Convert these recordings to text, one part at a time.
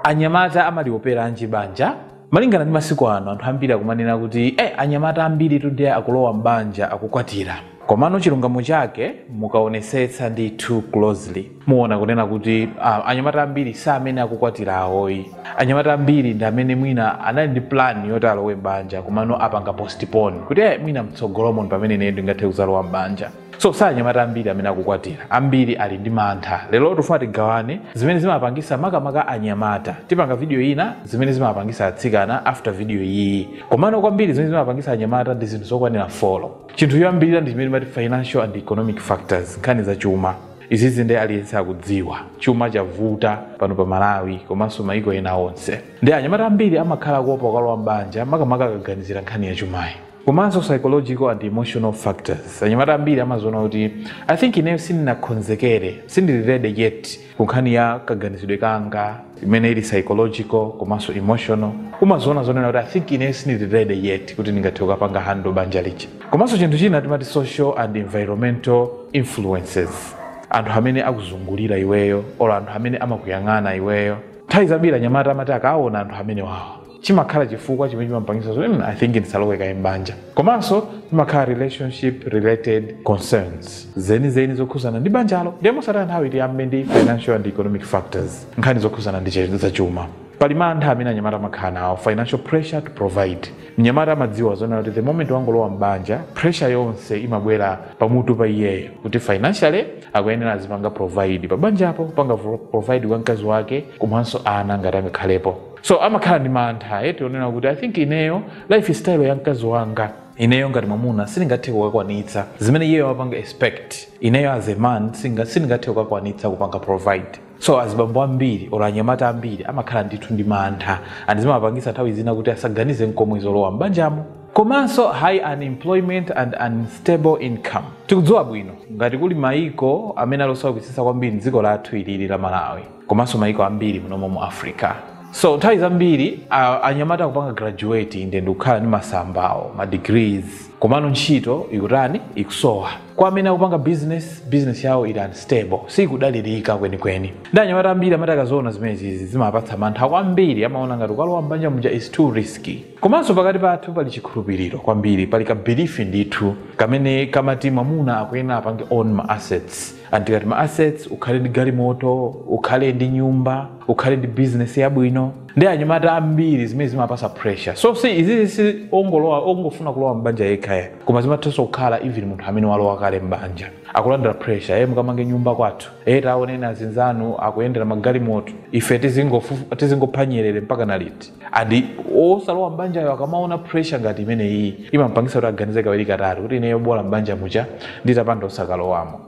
Anyamata amalioperanji banja? Malingana ndi masiku ano anthu ambiri akumanena kuti eh, anyamata ambiri tu nde akulowa m'banja akukwatira komano chilungamo chake mukaonesetsa ndithu closely muona kunena kuti ah, anyamata ambiri sa amene akukwatira awoyi anyamata ambiri ndi amene mwina anali ndi plan yoti alowe m'banja komano apanga postpone kuti eh, mwina mtsogolomo ndi pamene ine ndingathe kuzalowa m'banja so sa anyamata ambiri amene akukwatira ambiri ali ndi mantha lero tifuna tigawane zimene zimapangisa makamaka anyamata tipanga video ina zimene zimapangisa atsikana after video iyi komano kwambiri zimene zimapangisa anyamata ndi zinthu zokwanira folo chinthu choyambirira ndi chimene timati financial and economic factors nkhani za chuma izizi ndi aliyense akudziwa chuma chavuta pano pa malawi komanso maiko ena onse ndi anyamata ambiri amakhala kuopa kukalowa m'banja makamaka akaganizira nkhani ya chumayi komanso psychological and emotional factors anyamata ambiri amaziona kuti i think ineyo sindinakonzekere sindili ready yet ku nkhani ya kaganizidwe kanga imene ili psychological komanso emotional umaziona zoona kuti i think ineyo sindili ready yet kuti ndingathe kukapanga handle banja lija komanso chinthu china timati social and environmental influences anthu amene akuzungulira iweyo or anthu amene amakuyang'ana iweyo nthawi zambiri anyamata amati akaona anthu amene wawo chimakhala chifukwa chimene chimapangisa zoti mm, i think ndisalowe kaye m'banja komanso zimakhala relationship related concerns zenizeni zokhuzana ndi banjalo ndiye mosataya nthawi tiyambe ndi financial and economic factors nkhani zokhuzana ndi za chuma pali mantha amene anyamata amakhala nawo financial pressure to provide mnyamata amadziwa zoona kuti the moment wangolowa m'banja pressure yonse imabwera pamutu pa iyeyo kuti financially akuyenera azipanga provide pa banjapo kupanga provide kwa mkazi wake komanso ana ngati angakhalepo so amakhala ndi mantha eti eh, onena kuti i think ineyo life style ya mkazi wanga ineyo ngati mwamuna sindingathe kukakwanitsa zimene iyeyo amapanga expect ineyo as a man sindingathe kukakwanitsa kupanga provide so azibambo ambiri or anyamata ambiri amakhala ndithu ndi mantha and zimapangisa nthawi zina kuti asaganize nkomwe zolowa m'banjamo komanso high unemployment and unstable income tikudziwa bwino ngati kuli maiko amene ali osaukitsitsa kwambiri dziko lathu ilili la malawi komanso mayiko ambiri munomo mu africa so nthawi zambiri anyamata akupanga graduate inde ndikukhala ndi masambawo ma degrees komano ntchito ikutani ikusowa kwa amene akupanga business business yawo ili unstable sikudalirika kwenikweni ndi anyamata ambiri amati akaziona zimenezizi zimapatsa mantha kwambiri amaona ngati kukalowa mbanja muja is too risky komanso pakati pathu pali chikhulupiriro kwambiri pali ka belief ndithu kamene kamati mwamuna akuyenera apange own ma assets and tikati ma assets ukhale ndi galimoto ukhale ndi nyumba ukhale ndi business yabwino ndi anyamata ambiri zimene zimapasa pressure so izizi si ongolowa ongofuna kulowa mbanja yekhayo koma zimathanso kukhala even munthu amene walowa kale mbanja akulandira pressure aye mukamange nyumba kwathu e taoneni azinzanu akuyendera magalimoto ife tizingofu- tizingophanyerere mpaka na liti and osalowa m'banjayo akamaona pressure ngati imene iyi imampangisa kuti aganize kawiri katatu kuti ineyo bola m'banja muja nditapanda osakalowamo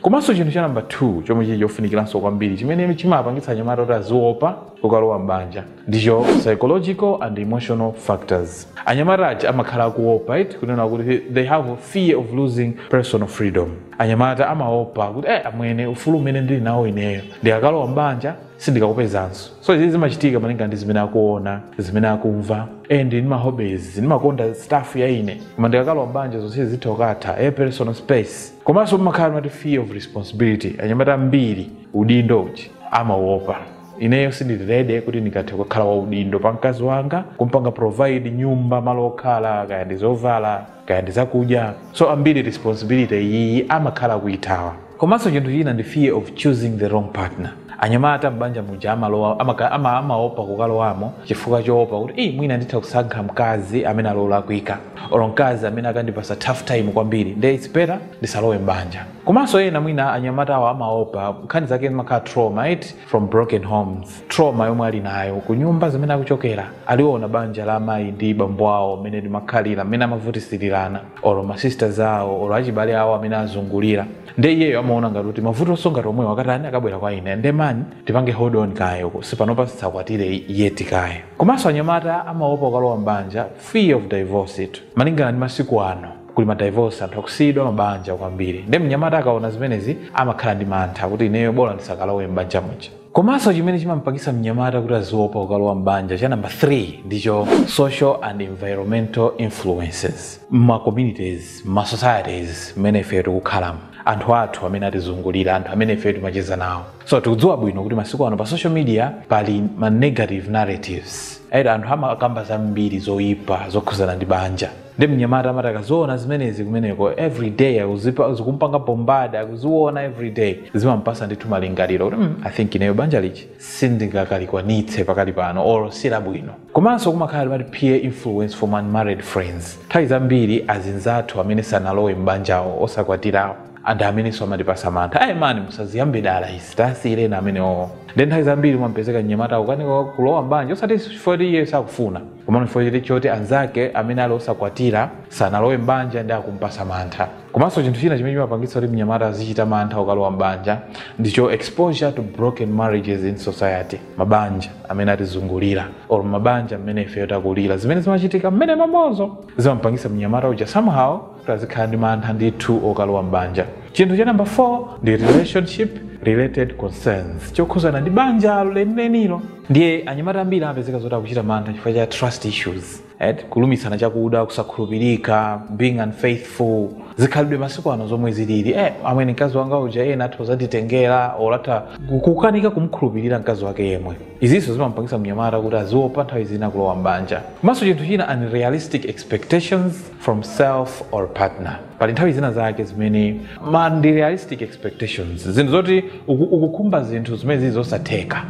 komanso chinthu cha namba 2 chomwe chili chofunikiranso kwambiri chimene chimapangitsa anyamata kuti aziopa kukalowa m'banja ndicho psychological and emotional factors anyamata aja amakhala akuopa kunena kuti they have fear of losing personal freedom anyamata amaopa kuti eh, amwene ufulu umene ndili nawo ineyo ndikakalowa mbanja sindikakupezanso so izi zimachitika malinga ndi zimene akuona zimene akumva and ndi mahobbies ndimakonda stuff ya ine koma ndikakalowa mbanja zonse zitha kukatha personal space komanso pamakhala amati fear of responsibility anyamata ambiri udindo uja amaopa ineyo sindili ready kuti ndingathe kukhala waudindo pa mkazi wanga kumpanga provide nyumba malo okhala kaya ndi zovala kaya ndi zakudya so ambiri responsibility iyiyi amakhala akuithawa komanso chinthu china ndi fear of choosing the wrong partner anyamata m'banja muja amalowa amaka- ama- amaopa kukalowamo chifukwa choopa kuti "Ih, mwina nditha kusankha mkazi amene ali olakwika olo mkazi amene akandipasa tough time kwambiri nde its better ndisalowe m'banja komanso ena mwina anyamatawo amaopa nkhani zake zimakhala trauma eti from broken homes trauma yomwe ali nayo ku nyumba zimene akuchokera aliona banja la amayi ndi bambo awo mmene limakhalira mmene amavutisirirana olo masisters awo olo achibale awo amene azungulira nde iyeyo amaona ngati kuti mavutonso ngati omwewo akatani akabwera kwa ine nde mani tipange hold on kaye osati panopa tisakwatire yet kaye komanso anyamata amaopa kukalowa mbanja fear of divorce eti malingana ndi masiku ano kuli madivorce anthu akusiyidwa mabanja kwambiri nde mnyamata akaona zimenezi amakhala ndi mantha kuti ineyo bola ndisakalowe m'banja muja komanso chimene chimampangisa mnyamata kuti aziopa kukalowa m'banja cha namba 3 ndicho social and environmental influences mma communities mma societies mmene ife tikukhalamo anthu athu amene atizungulira anthu amene ife timacheza nawo so tikudziwa bwino kuti masiku ano pa social media pali ma negative narratives eti anthu amakamba zambiri zoyipa zokhuzana ndi banja nde mnyamata amati akaziona zimenezi kumeneko everyday akuzipa- zikumpanga bombard akuziona everyday zimampasa ndithu malingaliro kuti mm, i think ineyo banja lija sindingakalikwanitse pakali pano or silabwino komanso kumakhala amati peer influence from unmarried friends nthawi zambiri azinzathu amene sanalowe m'banjawo osakwatirawo ndi amenenso amatipasa mantha ayi mani musaziyambe dala izi tasiyireni amenewo nde nthawi zambiri mumpezeka mnyamata akukanika kulowa m'banja osati chifukwa kuti iye sakufuna komano chifukwa choti anzake amene ali osakwatira sanalowe m'banja ndi akumpasa mantha komanso chinthu china chimene chimapangitsa kuti mnyamata azichita mantha okalowa m'banja ndicho exposure to broken marriages in society mabanja amene atizungulira or mabanja amene ifeyo takulira zimene zimachitika mmene mamozo zimampangitsa mnyamata uja somehow azikhala ndi mantha ndithu okalowa m'banja chinthu cha namba 4 ndi relationship related concerns chokhuzana ndi banjalo lenilenilo ndiye anyamata ambiri amapezeka zoti akuchita mantha chifukwa cha trust issues right? kulumisana chakuda kusakhulupirika being unfaithful zikhalidwe masiku ano zomwe zilili eh, amene mkazi wanga uja ena atha kuzanditengera or atha kukanika kumkhulupirira mkazi wake yemwe izinso zimampangisa mnyamata kuti aziopa nthawi zina kulowa m'banja komanso chinthu china unrealistic expectations from self or partner pali nthawi zina zake zimene ma unrealistic expectations zinthu zoti uku- ukukhumba zinthu zimene zili zosatheka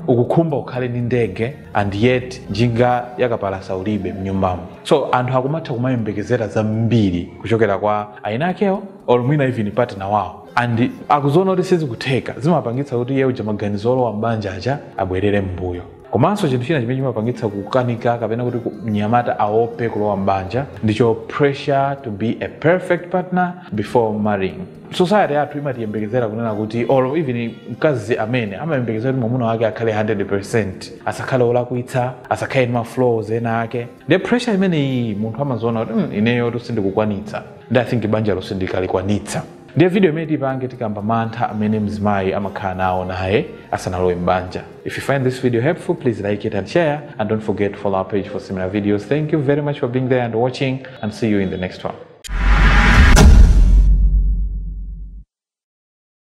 ukukhumba ukhale ndi ndege and yet njinga yakapalasa ulibe mnyumbamo so anthu akumatha kumayembekezera zambiri kuchokera kwa iwo eniakewo or mwina even partner wawo and akuziona kuti sizikutheka zimapangitsa kuti iye uja maganizo olowa m'banja aja abwerere m'mbuyo komanso chinthu china chimene chimapangitsa kukanika kapena kuti ku- mnyamata aope kulowa mbanja ndicho pressure to be a perfect partner before marrying society yathu imatiyembekezera kunena kuti or even mkazi amene amayembekezera kuti mwamuna wake akhale 100% asakhale olakwitsa asakhale ndi maflaws ena ake nde pressure imeneyi munthu amaziona kuti "Mm, ineyo sindikukwanitsa nde i think banjalo sindikalikwanitsa ndiye video imene tipange tikamba mantha amene mzimayi amakhala nawo naye asanalowe m'banja if you find this video helpful please like it and share and don't forget to follow our page for similar videos thank you very much for being there and watching and see you in the next one